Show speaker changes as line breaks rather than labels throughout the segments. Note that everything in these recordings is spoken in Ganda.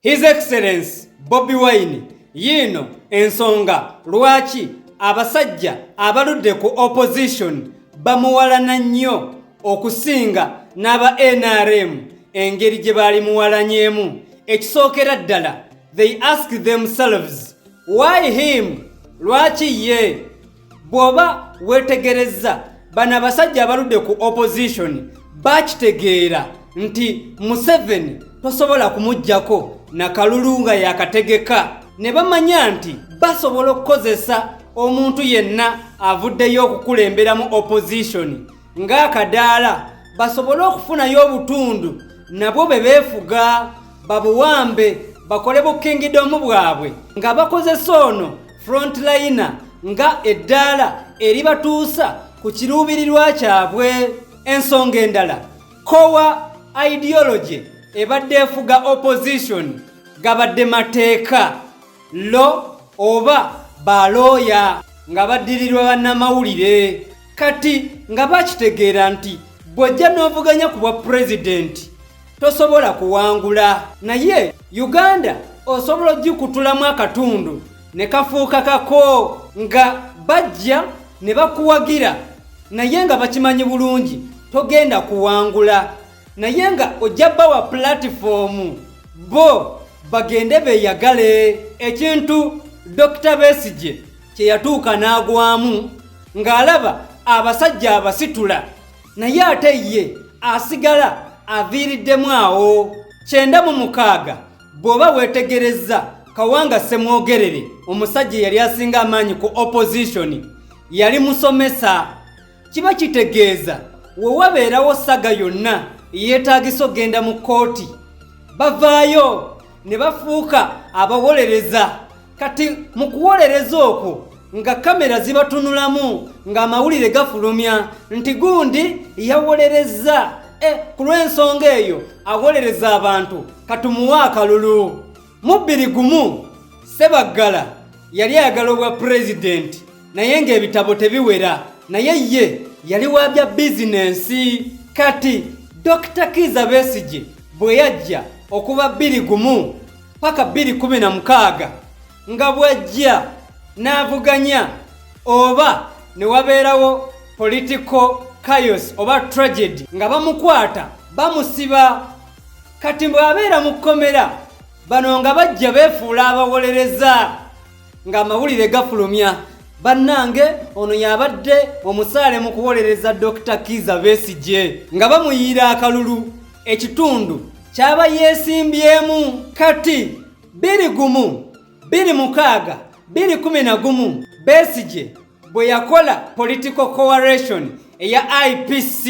His Excellency Bobi Wine yiino ensonga lwaki abasajja abaludde ku opposition bamuwalana nnyo okusinga n'aba NRM engeri gye baali muwalanyemu ekisookera ddala they ask themselves why him lwaki ye bw'oba weetegerezza bano abasajja abaludde ku opposition bakitegeera nti museveni tosobola kumuggyako nakalulu nga yakategeka ne bamanya nti basobola okukozesa omuntu yenna avuddeyo okukulemberamu opposition ng'akadaala basobole okufunayo obutundu nabwo be beefuga babuwambe bakole bukingidomu bwabwe nga bakozesa ono frontlayina nga eddaala eribatuusa ku kiruubirirwa kyabwe ensonga endala kowa ideology ebadde efuga opposition gabadde mateeka lo oba balooya nga baddirirwa bannamawulire kati nga bakitegeera nti bw'ojja n'ovuganya ku bwa pulezidenti tosobola kuwangula naye uganda osobola ogikutulamu akatundu ne kafuuka kako nga bajja ne bakuwagira naye nga bakimanyi bulungi togenda kuwangula naye nga ojja bawa pulatifoomu bo bagende beyagale ekintu dokita besigye kyeyatuuka n'agwamu ng'alaba abasajja abasitula naye ate ye asigala aviiriddemu awo kyenda mu mukaaga bw'oba weetegerezza kawanga ssemwogerere omusajja eyali asinga amaanyi ku opozishoni yali musomesa kiba kitegeeza we wabeerawo saga yonna eyeetaagisa okugenda mu kkooti bavaayo ne bafuuka abawolereza kati mu kuwolereza okwo nga kamera zibatunulamu ng'amawulire gafulumya nti gundi yawolerezza e ku lw'ensonga eyo awolereza abantu katumuwa akalulu Mubbiri gumu Sebaggala yali ayagala obwa pulezidenti naye ng'ebitabo tebiwera naye ye yali wa bya bizinensi kati Dr. Kiiza Besigye bwe yajja okuba bbiri gumu paka bbiri kumi na mukaaga nga bw'ajja n'avuganya oba ne wabeerawo political chaos oba tragedy nga bamukwata bamusiba kati bw'abeera mu kkomera bano nga bajja beefuula abawolereza ng'amawulire gafulumya bannange ono yabadde omusaale mu kuwolereza dr kiiza besigye nga bamuyiira akalulu ekitundu kyaba yeesimbyemu kati biri gumu biri mukaaga biri kumi na gumu besigye bwe yakola political coalition eya ipc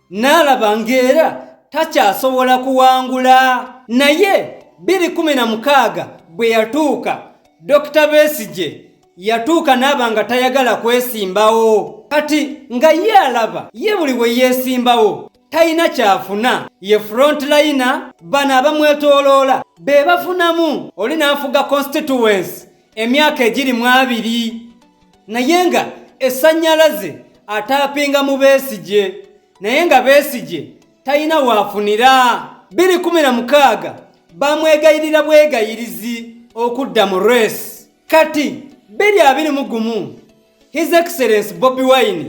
n'alaba ng'era takyasobola kuwangula naye 216 bwe yatuuka dokita besigye yatuuka n'aba nga tayagala kwesimbawo kati nga ye alaba ye buli bwe yeesimbawo talina kyafuna ye frontline bano abamwetoloola be bafunamu oli n'afuga constituensi emyaka egiri mu abiri naye nga esanyalaze atapinga mu besigye naye nga besigye talina waafunira 216 bamwegayirira bwegayirizi okudda mu resi kati 221 his excellence bobi wine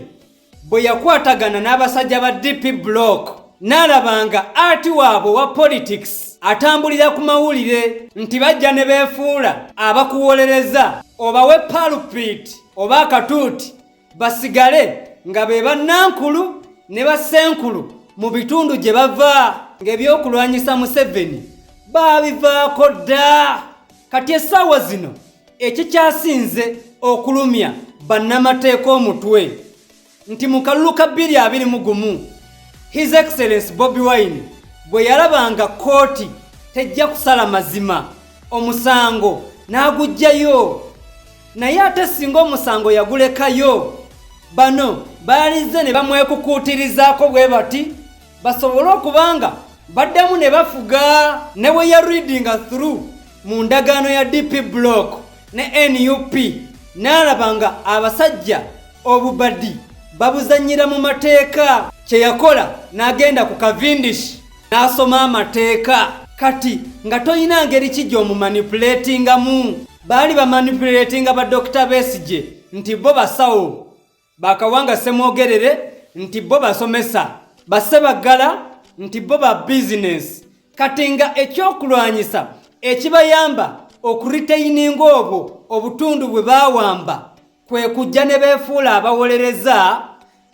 bwe yakwatagana n'abasajja ba dp block n'alaba nga ati waabwe wa politics atambulira ku mawulire nti bajja ne beefuula abakuwolereza obawe palpit oba akatuuti basigale nga be bannankulu ne bassenkulu mu bitundu gye bava ng'ebyokulwanyisa museveni baabivaako dda kati essaawa zino ekikyasinze okulumya bannamateeka omutwe nti mu kalulu ka bbiri abiri mu gumu his excellence bobi wine bwe yalaba nga kkooti tejja kusala mazima omusango n'aguggyayo naye ate singa omusango yagulekayo bano baalizze ne bamwekukuutirizaako bwe bati basobole okuba nga baddamu ne bafuga ne bwe ya readinga through mu ndagaano ya dp block ne nup n'alaba nga abasajja obubadi babuzannyira mu mateeka kye yakola n'agenda ku kavindish n'asoma amateeka kati nga tolina ngeri ki gy'omumanipulatingamu baali bamanipuletinga badokita besigye nti bo basawo bakawanga semwogerere nti bo basomesa basse baggala nti bo ba bizinensi kati nga ekyokulwanyisa ekibayamba okuriteyininga obwo obutundu bwe bawamba kwe kujja ne beefuula abawolereza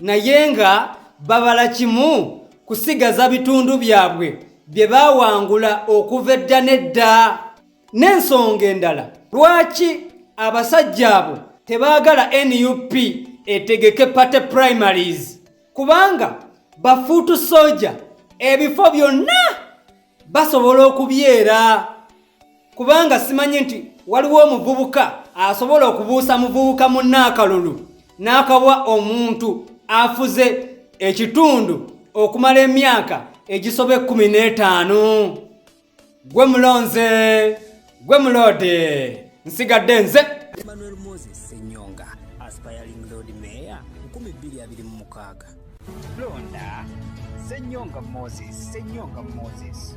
naye nga babala kimu kusigaza bitundu byabwe bye bawangula okuva edda n'edda n'ensonga endala lwaki abasajja abo tebaagala nup etegeke party primaries kubanga bafuutu soja ebifo byonna basobola okubyera kubanga simanyi nti waliwo omuvubuka asobola okubuusa muvubuka munnaakalulu n'akawa omuntu afuze ekitundu okumala emyaka egisoba ekkumi n'etaano gwe mulonze gwe muloode nsigadde nze emmanuel moses
senyonga aspiring lord mayor 2026
londa senyonga moses senyonga moses